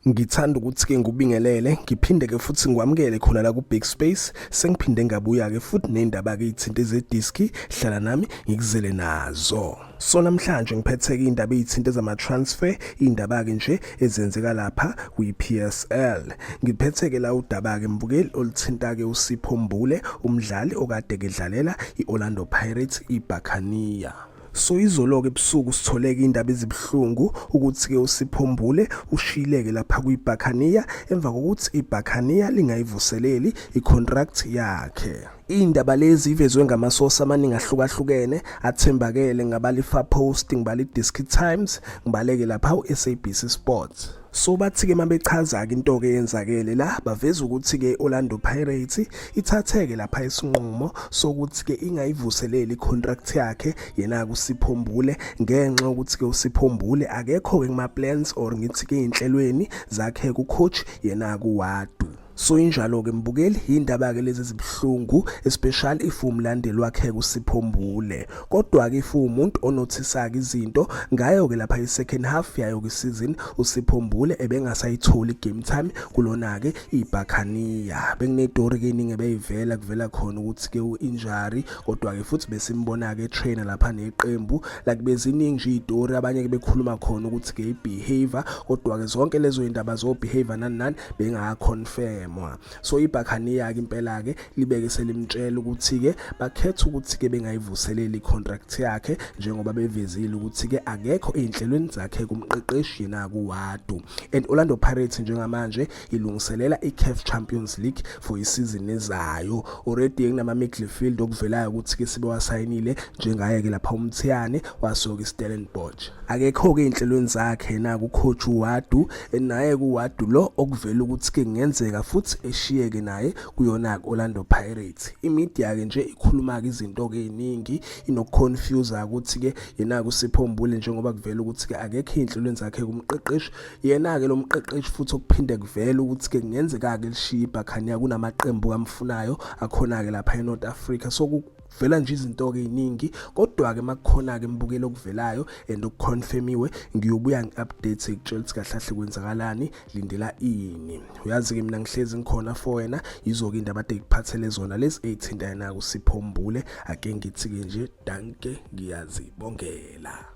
Ngithanda ukuthi-ke ngubingelele ngiphinde-ke futhi ngikwamukele khona la ku-big space sengiphinde ngabuya-ke futhi ney'ndaba-ke iy'thinta ezediski hlala nami ngikuzele nazo so namhlanje ngiphetheke iy'ndaba ey'thinta ezama-transfer iy'ndaba-ke nje ezenzeka lapha kwi-p s l ngiphetheke la udaba-ke mbukeli oluthinta-ke usipho mbule umdlali okade-ke dlalela i-orlando pirates ibhakaniya So izoloke ebusuku sitholeke indaba ezibuhlungu ukuthi-ke uSiphombule ushiyileke lapha kwiBhakaniya emva kokuthi iBhakaniya lingayivuseleli icontract yakhe. Iy'ndaba lezi ivezwe ngamasosi amaningi ahlukahlukene athembakele ngabala iFar Post, ngibala iDiski Times, ngibaleke lapha uSABC Sports. So bathi-ke uma bechaza-ke into-ke eyenzakele la baveza ukuthi-ke i-Orlando Pirates ithatheke lapha isinqumo sokuthi-ke ingayivuseleli i-contract yakhe yena-ke uSiphombule ngenxa yokuthi-ke uSiphombule akekho-ke kuma-plans or ngithi-ke ey'nhlelweni zakhe ku-coach yena-ke uWadu. So injalo ke mbukeli indaba ke lezi zibuhlungu especially if umlandeli wakhe kusiphombule kodwa ke if umuntu onothisaka izinto ngayo ke lapha i second half yayo ke season usiphombule ebengasayitholi game time kulona ke iBakhania benginetori ke iningi ebeyivela kuvela khona ukuthi ke uinjury kodwa-ke futhi besimbona-ke etrainer lapha neqembu like beziningi nje iy'tori abanye-ke bekhuluma khona ukuthi ke i-behavior kodwa-ke zonke lezo y'ndaba zo-behavior nani nani bengaconfirmwa so ibhakhaniya-ke impela-ke libeke selimtshela ukuthi-ke bakhetha ukuthi-ke bengayivuseleli i-contract yakhe njengoba bevezile ukuthi-ke akekho ey'nhlelweni zakhe kumqeqeshi yena kuwadu and orlando pirates njengamanje ilungiselela iCAF Champions League for isizini ezayo already kunama midfield okuvelayo ukuthi ke sibe wasayinile njengaye ke lapha uMthiyane wasoka iStellenbosch akekho ke inhlelweni zakhe na kucoach uWadu naye kuWadu lo okuvela ukuthi ke ngenzeka futhi eshiyeke naye kuyona Orlando Pirates imedia ke nje ikhuluma ke izinto ke eziningi inokuconfuse ukuthi ke yena kusiphombule njengoba kuvela ukuthi ke akekho inhlelweni zakhe kumqeqeshi Yena-ke lo mqeqeshi futhi okuphinde kuvele ukuthi-ke kungenzeka-ke lishiye ibhakhaniya kunamaqembu kamfunayo akhona-ke lapha enorth africa so kuvela nje izinto-ke ey'ningi kodwa-ke uma kukhona-ke mbukelo okuvelayo and okuconfirmiwe ngiyobuya ngi-update ngikutshela ukuthi kahle kahle kwenzakalani lindela ini uyazi-ke mina ngihlezi ngikhona for wena yizo-ke indaba ade ngikuphathele zona lezi ey'thinta yena-ke usiphombule ake ngithi-ke nje danke ngiyazibongela